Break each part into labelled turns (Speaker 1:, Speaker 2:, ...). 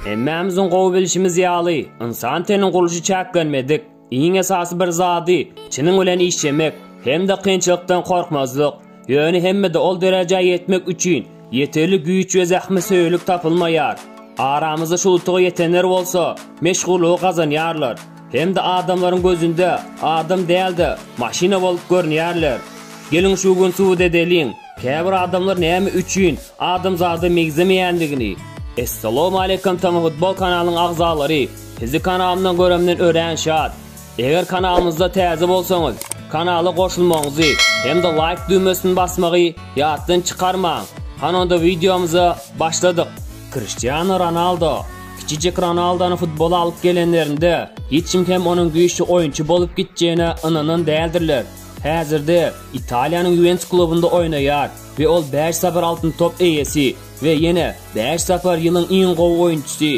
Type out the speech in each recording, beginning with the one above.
Speaker 1: Hemmämiziň gowy bilşimiz ýaly, ynsan teniniň gurluşy çäklenmedik. Iň esasy bir zady, çynyň bilen işlemek hem-de kynçylykdan gorkmazlyk. Ýöne hemmede ol derejä ýetmek üçin ýeterlik güýç we zähmetsöýerlik tapylmaýar. Aramyzda şu utuga ýetenler bolsa, meşhurlygy gazanýarlar. Hem-de adamlaryň gözünde adam däl-de, maşyna bolup görünýärler. Geliň şu gün subut edeliň, käbir adamlar näme üçin adamzada meňzemeýändigini. Essalowmaleýkum Tamafutbol kanalynyň agzalary, sizi kanalymdan göremden örän şat. Eger kanalymyzda täze bolsaňyz, kanala goşulmagyňyzy hem-de laýk düwmesini basmagy ýatdan çykarmaň. Han onda wideomyza başladyk. Kriştiano Ronaldo Kiçijek Ronaldony futbola alyp gelenlerinde, hiç kim hem onuň güýçli oýunçy bolup gitjegine ynanan däldirler. Häzirde Italiýanyň Ýuwentus klubunda oýnaýar we ol bäş sapar Altyn top eýesi we ýene bäş sapar ýylyň iň gowy oýunçysy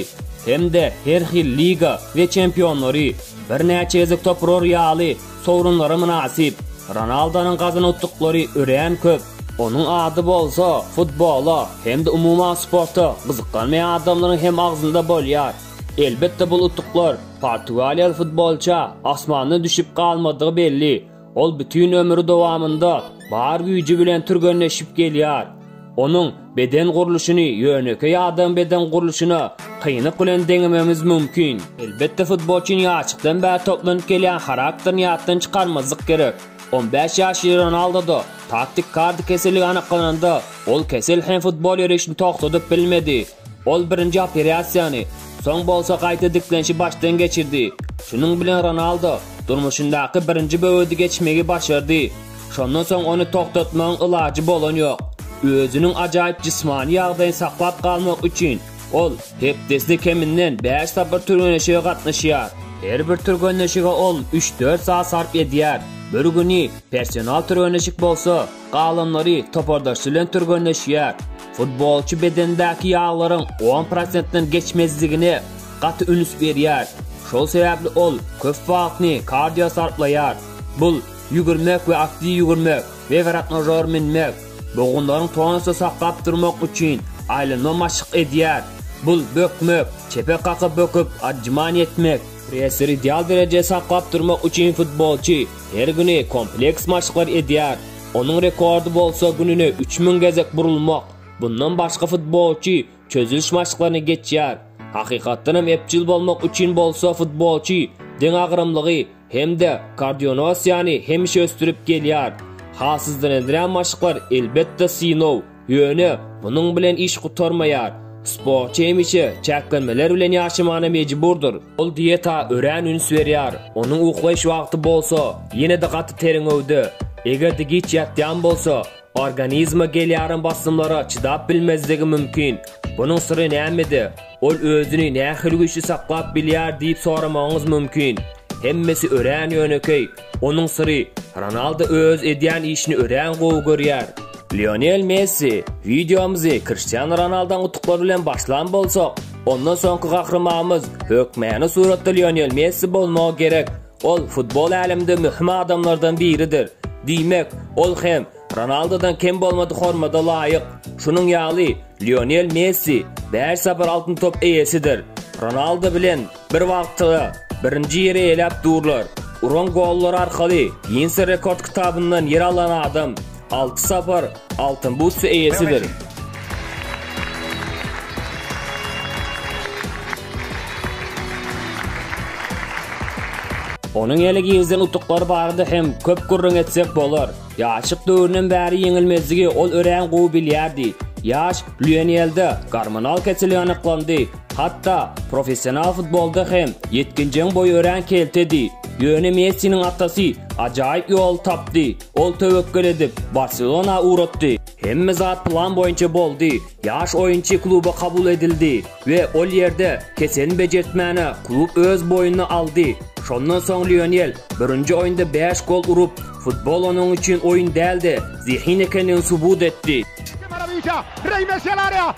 Speaker 1: hem-de her hil liga we çempionlary birnäçe gezek topurar ýaly Sowrunlara mynasyp Ronaldonyň gazanawtlyklary örän köp. Onuň ady bolsa, futbola hem-de umuman sporta gyzyklanmaýan adamlaryň hem agzynda bolýar. Elbetde, bul utuklar portugaliýaly futbolça asmandan düşüp galmadygy belli. Ol bütin ömri dowamynda bar güýji bilen türgenleşip gelýär. Onuň beden gurluşyny ýönekeý adam beden gurluşyna kynlyk bilen deňemegimiz mümkin. Elbetde futbolçyny ýaşlykdan bäri toplanyp gelýän harakterini ýatdan çykarmazlyk gerek. On bäş ýaşly Ronaldoda taktik kardy keselligi anyklananda, ol kesel hem futbol ýörişini togtadyp bilmedi. Ol birinji operasiýany, soň bolsa gaýta diklenişi başdan geçirdi. Şunuň bilen Ronaldo durmuşyndaky birinji böwedi geçmegi başardy. Şondan soň ony togtatmagyň ilajy bolan ýok. Özüniň ajaýyp jismany ýagdaýyny saklap galmak üçin ol hepdesine keminden bäş sapar türgenleşige gatnaşýar. Her bir türgenleşige ol üç-dört sagat sarp edýär. Bir güni personal türgenleşik bolsa, galanlary topardaşy bilen türgenleşýär. Futbolçy bedendäki ýaglaryň on prosentden geçmezligine gaty üns berýär. Şol sebäpli ol köp wagtyny kardio sarplaýar. Bul, ýügürmek we aktiw ýügürmek, wegrotrnažor münmek, bogunlaryň tonusda saklap durmak üçin aýlanma maşk edýär. Bul, bökmek, çepe kakyp böküp atžman etmek. Pressleri ideal derejede saklap durmak üçin futbolçy her güni kompleks maşklar edýär. Onuň rekordy bolsa gününe üç müň gezek burulmak. Bundan başga futbolçy çözüliş maşklaryny geçýär. Hakykatdan hem ebjil bolmak üçin bolsa futbolçy deňagramlygy hem-de kardionosiýany hemişe ösdürip gelýär. Halsyzdyrendirän maşklar elbetde synow. Ýöne, munuň bilen iş gutarmaýar. Sportçy hemişe çäklenmeler bilen ýaşamana mejburdyr. Ol dieta örän üns berýär, onuň uklaýyş wagty bolsa ýene-de gaty terňewde. Eger-de giç ýatýan bolsa, organizme gelýärem basymlara çydap bilmezligi mümkin. Bunuň syry nämede? Ol özüni nähili güýçli saklap bilýär diýip soramagyňyz mümkin. Hemmesi örän ýönekeý. Onuň syry, Ronaldo öz edýän işini örän gowy görýär. Lionel Messi, Wideomyzy Kriştianu Ronaldoň utuklary bilen başlan bolsak, ondan soňky gahrymamyz hökmany suratda Lionel Messi bolmagy gerek. Ol futbol äleminde möhüm adamlardan biridir. Diýmek, ol hem Ronaldodan kem bolmadyk hormada laýyk. Şunuň ýaly, Lionel Messi bäş sapar Altyn top eýesidir. Ronaldo bilen Bir wagtda-da birinji ýeri eýläp durlar. Uran gollary arkaly Ginnse rekord kitabyndan ýer alan adam alty sapar Altyn bus eýesidir. Onuň ýene girizen utuklary barada hem köp gürrüň etsek bolar. Ýaşlyk döwründen bäri ýeňilmezligi ol örän gowy bilýärdi. Ýaş Lýonelde gormonal kesel anyklandy. Hatda, professional futbolda hem ýetginjegiň boýy örän keltedi. Ýöne Messiniň atasy ajaýyp ýoly tapdy. Ol töwekgel edip, Barselona ugratdy. Hemme zat plan boýunça boldy. Ýaş oýunçy kluba kabul edildi we ol ýerde keselini bejertmäne klub öz boýnuna aldy. Şondan soň Lionel birinji oýunda bäş gol urup, futbol onuň üçin oýun däl-de, zehin ekendigini subut etdi.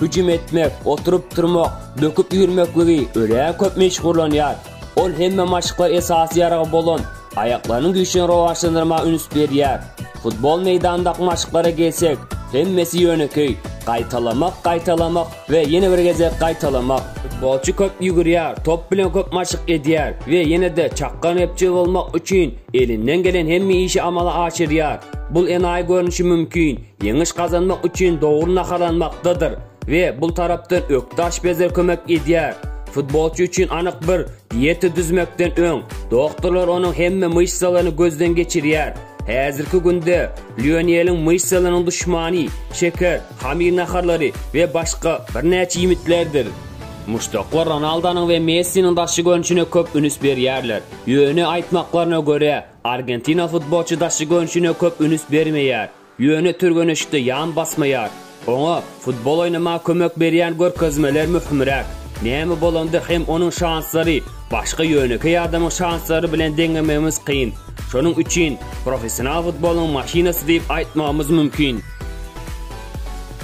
Speaker 1: Hüjüm etmek, oturyp turmak, böküp ýürmekligi örä köp meşhurlanýar. Ol hemme maşklar esasy ýaragy bolan aýaklarynyň güýçlerini rowaçlandyrmaga üns berýär. Futbol meýdanyndaky maşklara gelsek, hemmesi ýönekeý, gaýtalamak, gaýtalamak we ýene bir gezek gaýtalamak. Futbolçy köp ýügürýär, top bilen köp maşk edýär we ýene-de çakgan repçi bolmak üçin elinden gelen hemme işi amala aşyrýar. Bul enaýy görnüşi mümkin, Ýeňiş gazanmak üçin dogry naharlanmakdadyr we bul tarapdan ökde aşpezler kömek edýär. Futbolçy üçin anyk bir dieta düzmekden öň, doktorlar onuň hemme myşsalaryny gözden geçirýär. Häzirki günde Lioneliň myşsalarynyň duşmany şeker, hamir naharlary we başga birnäçe iýmitlerdir. Muşdaklar Ronaldonyň we Messiniň daşky görnüşine köp üns berýärler, ýöne aýtmaklaryna görä, Argentina futbolçy daşky görnüşine köp ünüs bermeýär, ýöne türgenişikde ýan basmaýar. Oňa futbol oýnamaga kömek berýän görkezmeler möhümräk. Näme bolanda hem onuň şanslary başga ýönekeý adamyň şanslary bilen deňemegimiz kyn. Şonuň üçin professional futbolyň maşynasy diýip aýtmagymyz mümkin.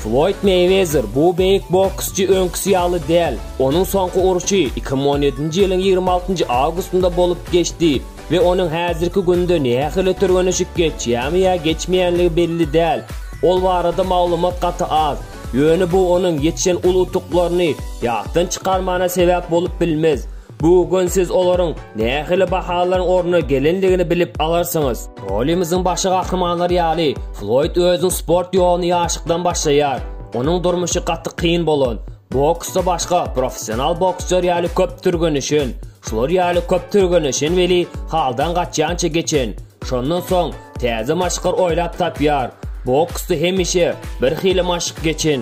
Speaker 1: Floýd Meýwezer bu beýik boksçy öňküsi ýaly däl. Onuň soňky urşy iki müň on ýedinji ýylyň ýigrimi altynjy awgustynda bolup geçdi. we onuň häzirki günde nähili türgenişik geçýärmi ýa geçmeýänligi belli däl. Ol barada maglumat gaty az, ýöne bu onuň ýetişen uly utuklaryny ýatdan çykarmagyna sebäp bolup bilmez. Bu gün siz olaryň nähili bahalaryň ornuna gelendigini bilip alarsyňyz. Rolimiziň başy gahrymanlary ýaly, Floýd özüniň sport ýoluny ýaşlykdan başlaýar. Onuň durmuşy gaty kyn bolan, boksda başga professional boksçylar ýaly köp türgenişen, Şular ýaly köp türgenleşen weli haldan gaçýança geçen. Şondan soň täze maşklar oýlap tapýar. Boksda hemişe bir hili maşk geçen.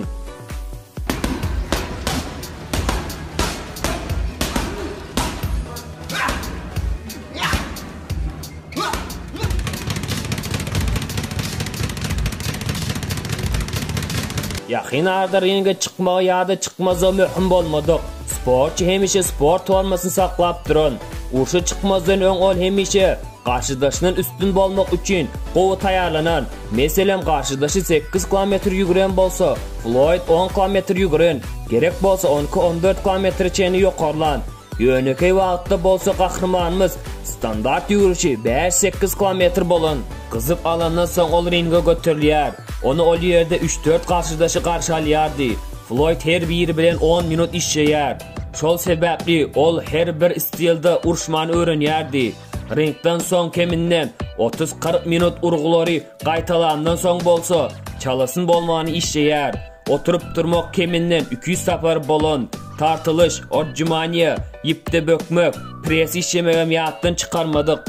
Speaker 1: Ýakyn arada ringe çykmagy ýa-da çykmazlygy möhüm bolmadyk. Sportçy hemişe sport formasyny saklap duran. Urşa çykmazdan öň ol hemişe garşydaşyndan üstün bolmak üçin gowy taýýarlanan. Meselem, garşydaşy 8 kilometr ýügüren bolsa, Floýd 10 kilometr ýügüren, gerek bolsa onki 14 kilometre çenli ýokarlan. Ýönekeý wagtda bolsa gahrymanymyz standart ýügürişi bäş-sekiz kilometr bolan. Gyzyp alandan soň ol ringe göterilýär. Ony ol ýerde üç-dört garşydaşy garşy alýardy. Floýd her biri bilen on minut işleýär. Şol sebäpli ol her bir stilde urşmany öwrenýärdi. Ringden soň keminden otuz-kyrk minut urgulary gaýtalandan soň bolsa, çalasyn bolmany işleýär. Oturyp durmak keminden iki ýüz sapar bolan, tartylyş, odjimaniýa, ýipde bökmek, Press işlemegem ýatdan çykarmadyk.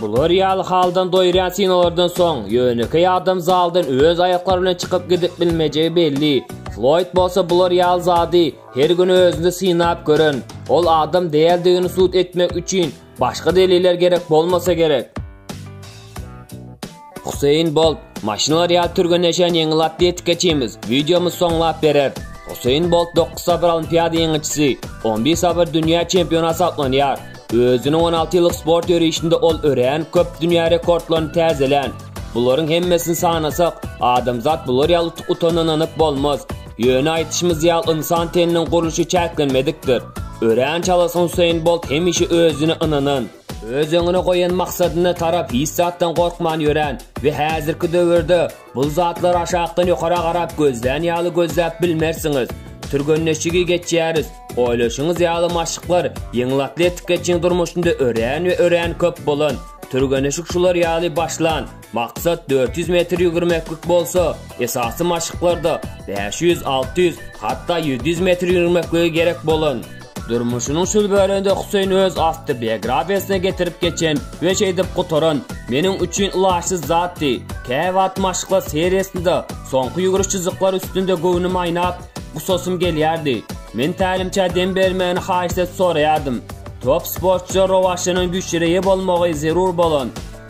Speaker 1: Bular ýaly haldan doýurýan sinolardan soň, ýönekeý adam zaldan öz aýaklary bilen çykyp gidip bilmejegi belli. Floýd bolsa bular ýaly zady her gün özünde synap gören. Ol adam däldigini subut etmek üçin başga deliller gerek bolmasa gerek. Huseýin Bolt, Maşynlar ýaly türgenleşen ýeňil atletikaçymyz, wideomyz soňlap berer. Huseýin Bolt dokuz sapar Olimpiada ýeňijisi, on bir sapar dünýä çempiony hasaplanýar. Özüniň on alty ýyllyk sport ýörişinde ol örän köp dünýä rekordlaryny täzelän. Bularyň hemmesini sanasak, adamzat bular ýaly utuk-utana ynanyp bolmaz. Ýöne aýdyşymyz ýaly ynsan teniniň gurluşy çäklenmedikdir. Örän çalasyn Huseýin Bolt hemişe özüne ynanan. Öz öňüne goýan maksadyna tarap hiç zatdan gorkman ýörän we häzirki döwürde bul zatlary aşakdan ýokara garap gözlän ýaly gözläp bilmersiňiz. Türgenleşigi geçýäris. Oýlaşyňyz ýaly maşklar ýeňil atletikaçyň durmuşynda örän we örän köp bolan. Türgeneşik şular ýaly başlan, Maksat dört ýüz metr ýügürmeklik bolsa, esasy maşklarda bäş ýüz, alty ýüz, hatda ýedi ýüz metr ýügürmekligi gerek bolan. Durmuşynyň şul böleginde Huseýn öz awtobiografiýasyna getirip geçen we şeýdip gutaran, Meniň üçin ylaçsyz zatdy. Käwagt maşklar seriýasynda soňky ýügüriş çyzyklary üstünde göwnüm aýnap, gusasym gelýärdi. Men tälimçä dem bermegini haýyşt edip soraýardym. Top sportçyda rowaçlanan güýçlere eýe bolmagy zerur bolan,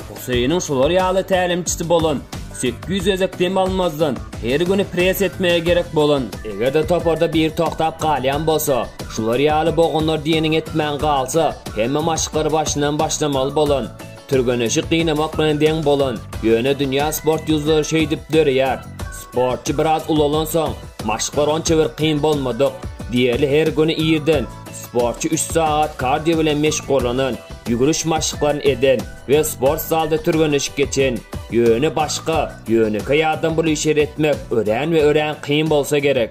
Speaker 1: Huseýiniň şular ýaly tälimçisi bolan, sekiz ýüz gezek dem almazdan, her güni pres etmäge gerek bolan, eger-de toparda biri togtap galýan bolsa, şular ýaly bogunlar diýeniňi etmän galsa, hemme maşklary başyndan başlamaly bolan, türgeneşik gynamak bilen deň bolan, ýöne dünýä sport ýüzleri şeýdip döreýär. Sportçy biraz ulalansoň, maşklar onça bir kyn bolmadyk. Diýeli her güni irden, Sportçy üç sagat kardio bilen meşgullanan, ýügüriş maşklaryny eden we sport zalda türgenleşik geçen. Ýöne başga, ýönekeý adam bul işleri etmek örän we örän kyn bolsa gerek.